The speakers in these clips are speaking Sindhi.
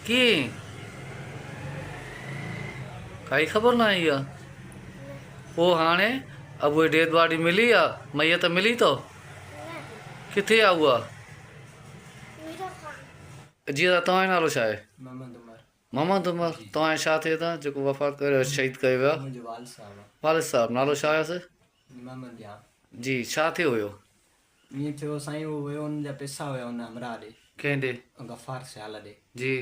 ڪيئن ڪائي خبر نه آئي آ پو هاڻي ابوء ڊيڊ باڊي ملي آ ميت ملي تو ڪٿي آ اها جي دا توهان جو نالو ڇا آهي محمد عمر توهان جو ڇا ٿئي دا جيڪو وفات ڪريو آهي شهيد ڪيو ويو آهي والد صاحب نالو ڇا هيس جي ڇا ٿيو هيو ائين ٿيو سائين هو ويو ان جا پئسا هيا ان همراهه ڏي. ڪنهن ڏي؟ غفار سيال ڏي. جي.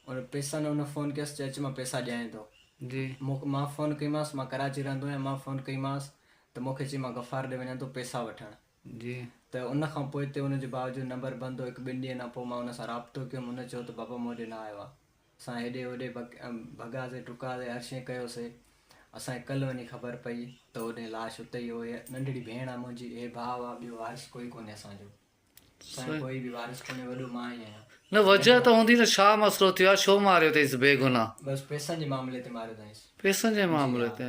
ان پئسن هن فون ڪيس چي اچ مان پئسا ڏيانء ٿو. جي. مون مان فون ڪئيمانس مان ڪراچي رهندو آهيان مان فون ڪئيمانس ته مون کي چي مان غفار ڏي وڃان ٿو پئسا وٺڻ. جي. ته ان کان پوءتي ان جي باوجود نمبر بند هو هڪ ٻن ڏينهن کان پوء مان ان سان رابطو ڪيم هن چيو ته بابا مون ڏي نه آيو آهي. اسان هيڏي هوڏي ڀڳاسي ٽڪاسي هر شيء ڪيوسي. اسان کي ڪلهه وڃي خبر پئي ته هوڏي لاش اتي ئي هو. هيء ننڍڙي ڀيڻ آ منهنجي، هي ڀاء آ، ٻيو وارث ڪوئي ڪونهي اسان جو. اسان جو ڪوئي به وارث ڪونهي، وڏو مان ئي آهيان. نه وجهه ته هوندي ته ڇا مسئلو ٿيو آ، ڇو ماريو اٿئيس بي گناهه؟ بس پئسن جي معاملي تي ماريو اٿائينس. پئسن جي معاملي تي؟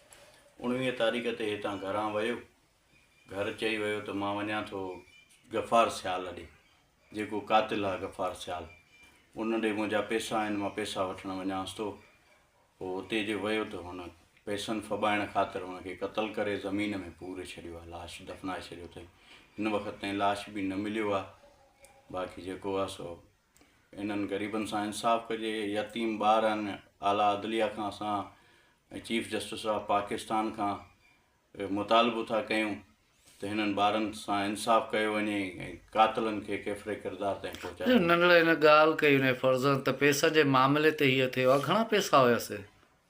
اڻويهه تاريخ تي هتان گهران ويو. گهر چئي ويو ته مان وڃان ٿو غفار سيال ڏي، جيڪو قاتل آ غفار سيال، ان ڏي منهنجا پيسا آهن، مان پيسا وٺڻ وڃانس ٿو. پوء اتي جو ويو ته هن پيسن ڦٻائڻ خاطر ان کي قتل ڪري زمين ۾ پوري ڇڏيو آ، لاش دفنائي ڇڏيو اٿئي. هن وقت تائين لاش به نه مليو آ، باقي جيڪو آ سو. انهن غريبن سان انصاف ڪجي، يتيم ٻارن، اعليٰ عدليه کان اسان ۽ چيف جسٽس آف پاڪستان کان مطالبو ٿا ڪيون ته هنن ٻارن سان انصاف ڪيو وڃي ۽ قاتلن کي ڪيفر ڪردار تائين پهچايو وڃي. ننڍڙي هن ڳالهه ڪئي هن جي فرزند ته پيسن جي معاملي تي هيء ٿيو آهي، گهڻا پيسا هيس؟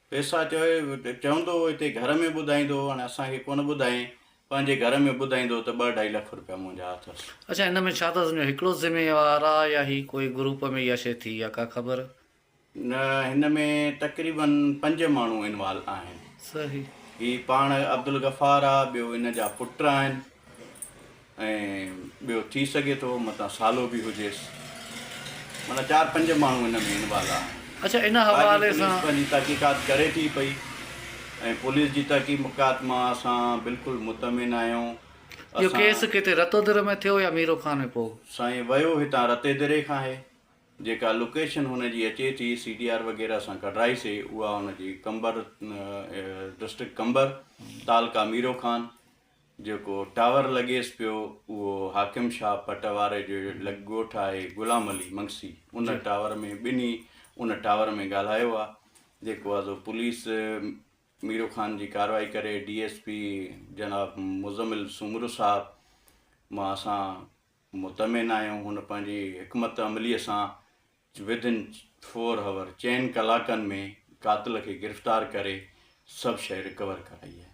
پئسا چوي چوندو هتي گهر ۾ ٻڌائيندو هاڻي اسان کي ڪونه ٻڌائين پنهنجي گهر ۾ ٻڌائيندو ته ٻه ڊهائي لک رپيا منهنجا اٿس. اڇا ان ۾ ڇا تس جو هڪڙو ذميوار آ يا هي ڪوئي گروپ ۾ اها شي ٿي آ ڪا خبر. نه هن ۾ تقريبن پنج ماڻهو انوالو آهن. صحيح. هي پاڻ عبدالغفار آ ٻيو ان جا پٽ آهن. ۽ ٻيو ٿي سگهي ٿو متان سالو به هجيس. معنيٰ چار پنج ماڻهو ان ۾ انوالو آهن. اچا ان حوالي سان. پوليس پنهنجي تحقيقات ڪري ٿي پئي ۽ پوليس جي تحقيمقات مان اسان بلڪل مطمئن آهيون. اهو ڪيس ڪٿي رتودر ۾ ٿيو يا ميرو خان ۾ پوء. سائين ويو هتان رتيدري کان آهي. جيڪا لوڪيشن هن جي اچي ٿي سي ڊي آر وغيره سان ڪڍرائي سي اها هن جي قمبر ڊسٽرڪٽ قمبر تعلقه ميرو خان. جيڪو ٽاور لڳيس پيو اهو حاڪم شاهه پٽ واري جو لڳ ڳوٺ آهي غلام علي منگسي ان ٽاور ۾ ٻنهي ان ٽاور ۾ ڳالهايو آهي جيڪو آزو پوليس ميرو خان جي ڪارروائي ڪري ڊي ايس پي جناب مزمل سومرو صاحب مان اسان مطمئن آهيون هن پنهنجي حڪمت عملي سان ودن فور هاور چئن ڪلاڪن ۾ قاتل کي گرفتار ڪري سڀ شيء رڪور ڪرائي آهي